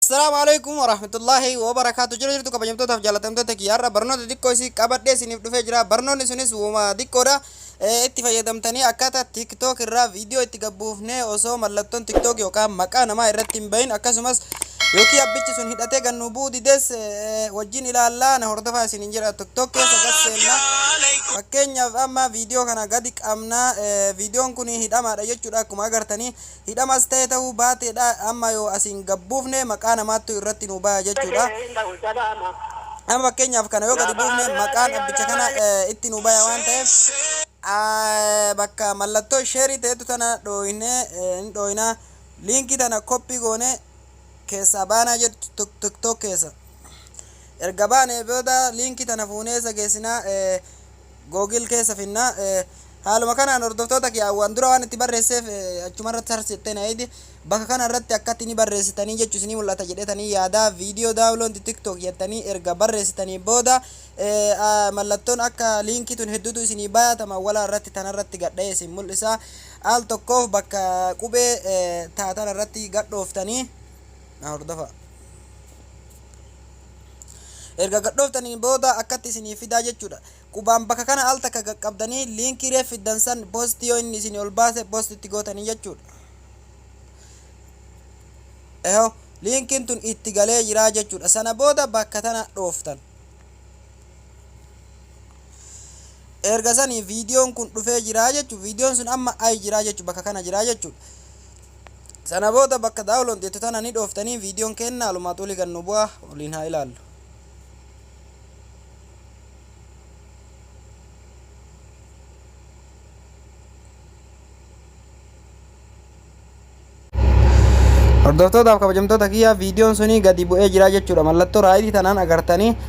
Assalaamu alaikum warahmatullaahi wabarakaatu jira jirtu kabajamtootaaf jaalatamtoota kiyya har'a barnoota xiqqoo isii qabadhee isiniif dhufee jira barnoonni sunis wuma xiqqoodha Eh, itti fayyadamtanii akkaataa tiktok irraa viidiyoo itti gabbuufnee osoo mallattoon tiktok yookaan maqaa namaa irratti hin bahin akkasumas yookiin abbichi sun hidhatee kan nu bu'u dides eh, wajjin ilaallaa na hordofaa isiniin jira tiktok keessa gad seennaa fakkeenyaaf amma viidiyoo kana gadi qabna eh, viidiyoon kun hidhamaadha jechuudha akkuma agartanii Hidhamas ta'e ta'uu baate dha amma yoo asi hin gabbuufne maqaa namaattu irratti nuu baya jechu dha. Amma fakkeenyaaf kana yoo gadi buufne maqaan abbicha kana itti nuu baya waan ta'eef bakka mallattoo sheerii ta'ettu tana dhooyne hin dhooyna. Liinkii tana koppii goone keessaa baanaa jettu tiktok keessa. Erga baanee booda liinkii tana fuunee eessa geessina? Google keessa finna. Haaluma kanaan hordoftoota kiyya waan dura waan itti barreesseef achuma irratti sarchi jettee na eeyde. Bakka kana irratti akkatti ni barreessitanii jechu isinii mul'ata jedhetanii yaada. Viidiyoo daawuloonti TikTok jettanii erga barreessitanii booda mallattoon akka liinkii tun hedduutu isinii bayaatama wala irratti tana irratti gadha'ee isin mul'isa. Al tokkoof bakka qubee taatan irratti gadhooftanii na hordofa. Erga gadhooftaniin booda akkatti isinii fidaa jechuudha. Qubaan bakka kana al takka qaqqabdanii liinkii reef fiddan san post yoo inni isinii ol baase post itti gootanii jechuudha. Eho liinkiin tun itti galee jiraa jechuudha. Sana booda bakka tana dhooftan. Erga sanii viidiyoon kun dhufee jiraa jechuudha. Viidiyoon sun amma ayi jiraa jechuudha bakka kana jiraa jechuudha. Sana booda bakka download jettu tana ni dhooftanii videon keenna alumaa xuli gad nu bu'aa waliin haa ilaallu. Hordoftootaaf kabajamtoota kiyyaa videon sunii gadi bu'ee jiraa jechuudha mallattoo raayitii tanaan agartanii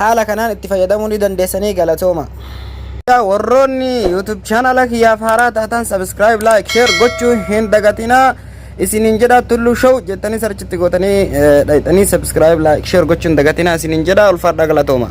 Haala kanaan itti fayyadamuu ni dandeessa ni galatooma. Warroonni YouTube channel kiyyaaf haaraa taatan subscribe, like, share gochuu hin dagatinaa. Isiniin jedha Tulluu Show jettanii sarchitti gootanii dhayxanii subscribe, like, share gochuu hin dagatinaa isiniin jedha ulfaadhaa galatooma.